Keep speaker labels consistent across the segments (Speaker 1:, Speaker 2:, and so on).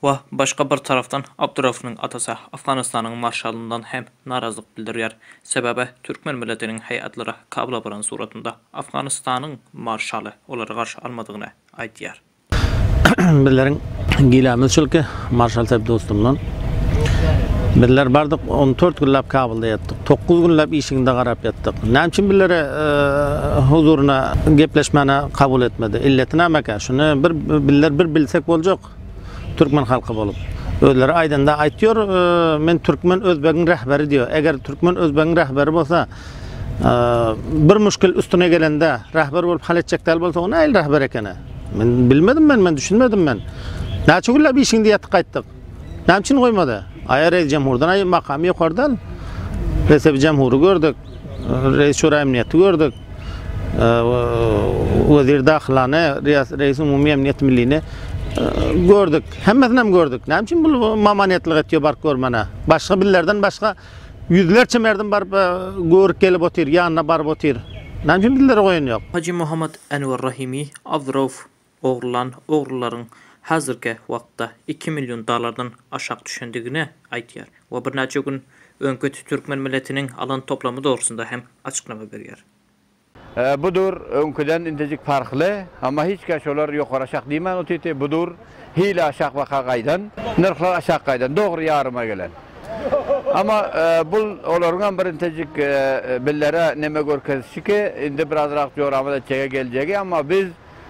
Speaker 1: We başga bir tarapdan Abdurauffynyň atasy Afganystanyň marşalyndan hem narazlyk bildirýär. Sebäbi türkmen milletiniň heýatlary Kabula baran suratynda Afganystanyň marşaly olary garşy almadygyny aýdýar. Bizleriň gilemiz şul ki, marşal Sep dostumdan, Bizler bardyk, on dört günläp Kabulda ýatdyk. Dokuz günläp işigiňde garap ýatdyk. Näme üçin bizleri huzuryna gepleşmäne kabul etmedi? Illeti nämekä? Şuny bir bizler bir bilsek boljak. halk. Türkmen halky bolup. Özleri aýdanda aýtýor, men türkmen özbegiň rähberi diýýär. Eger türkmen özbegiň rähberi bolsa, bir muşkil üstüne gelende rähber bolup hal etjek däl bolsa, o nähili rähber ekeni? Men bilmedim men, men düşünmedim men. Näçe günläp işiňde ýatyp gaýtdyk. Näme üçin goýmady? Aýa reis jemhurdan aýy makamy ýokardan. Resebi jemhury gördük. Reis şura emniýeti gördük. Wezir Dahylany, Reýis-Umumy Emniýet Millini gördük. Hemmesini hem gördük. Näme üçin bu mamanetlik etýär baryp görmäne? Başga bizlerden başga ýüzlerçe merdim baryp görüp gelip otyr, ýanyna baryp otyr. Näme üçin bizlere goýan ýok? Hajy Mohammad Anwar Rahimi, Abdurauf, ogrulan ogrularyň häzirki wagtda iki million dollardan aşak düşendigini aýdýar we birnäçe gün öňki türkmen milletiniň alan toplamy dogrusynda hem açyklama berýär. Bu dur öňküden intejik parhly, amma hiç kän şolar ýokary aşak diýmän otyrty, bu dur hili aşak waka gaýdan, nyrhlar aşak gaýdan, dogry ýaryma gelen. Amma bul olaryňam bir intejik billere neme görkezişiki, indi birazrak joramaz etjege geljegi, amma biz,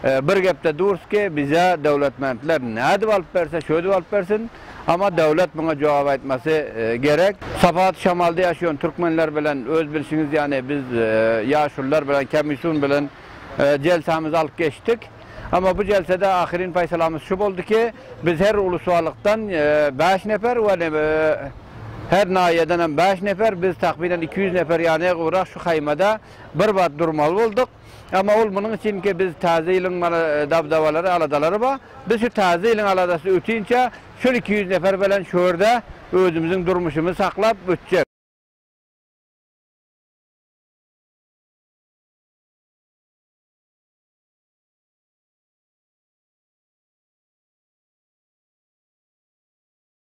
Speaker 1: Bir gepde durs ki, bize döwletmentler nädip alyp berse, şödip alyp bersin, amma döwlet muňa jogap aýtmasy gerek. Sapat şamalda ýaşaýan türkmenler bilen öz bilşiňiz ýaly biz ýaşulylar bilen, komissiýun bilen jelsämizi alyp geçdik. Amma bu jelsede ahyryn paýsalamyz şu boldy ki, biz her uluswalykdan bäş nefer we her naýýeden hem bäş nefer, biz takmynan iki ýüz nefer ýa ne gowrak şu haýmada bir wagt durmaly bolduk. Emma ol munuň üçinkä biz Täze ýylyň mana dabdabalary, aladalary bar. Biz şu Täze ýylyň aladasy ötinçä şol iki ýüz nefer bilen şu ýerde özümiziň durmuşymyzy saklap ötjek.